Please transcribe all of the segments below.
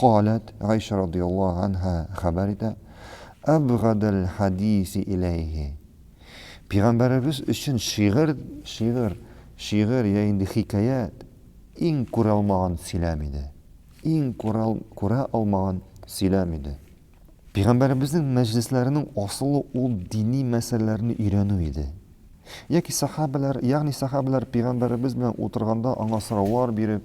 Каләт, Гайшә радияллаһу ганһа хәбәр итә, Әбгадәл хәдиси иләйһи, Пигамбәребез өчен шигырь, шигырь, шигырь йә инде хикәят, иң күралмаган сөйләм иде. Иң күрал, күрә алмаган сөйләм иде. Пигамбәребезнең мәҗлесләренең асылы ул дини мәсьәләләрне өйрәнү иде. Яки сәхабәләр, ягъни сәхабәләр Пигамбәребез белән утырганда аңа сораулар биреп,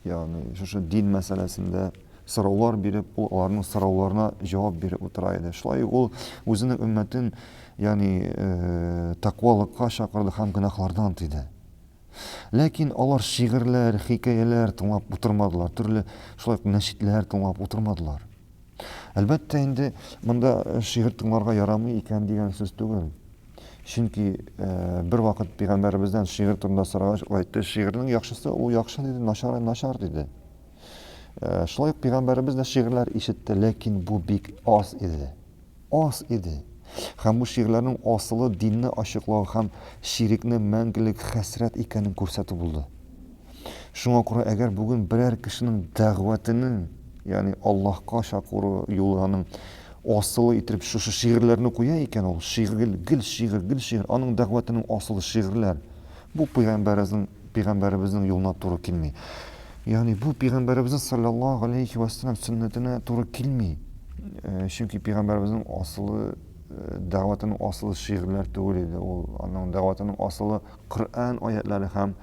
ягъни шушы дин мәсьәләсендә сораулар биреп, ул аларның сорауларына җавап биреп утыра иде. Шулай ул үзенең өммәтен, ягъни э, тәкъвалыкка чакырды һәм гөнаһлардан тыйды. Ләкин алар шигырьләр, хикәяләр тыңлап утырмадылар, төрле шулай ук нәшидләр тыңлап утырмадылар. Әлбәттә, инде монда э, шигырь тыңларга ярамый икән дигән сүз түгел. Чөнки бервакыт пигамбәребездән шигырь турында сорагач, ул әйтте, шигырьнең яхшысы ул яхшы диде, начары начар диде. Шулай ук пигамбәребез дә шигырьләр ишетте, ләкин бу бик аз иде. Аз иде. Һәм бу шигырьләрнең асылы динне ачыклау һәм ширекне мәңгелек хәсрәт икәнен күрсәтү булды. Шуңа күрә әгәр бүген берәр кешенең дәгъватының, ягъни Аллаһка чакыру юлы аның асылы итеп шушы шигырьләрне куя икән, ул шигырь, гел шигырь, гел шигырь, аның дәгъватының асылы шигырьләр. Бу пәйгамбәребезнең пәйгамбәребезнең юлына туры килми. Ягъни бу пәйгамбәребезнең саллаллаһу алейхи ва саллям сөннәтенә туры килми. Э, чөнки пәйгамбәребезнең асылы э, дәгъватының асылы шигырьләр түгел иде. Ул аның дәгъватының асылы Коръән аятлары һәм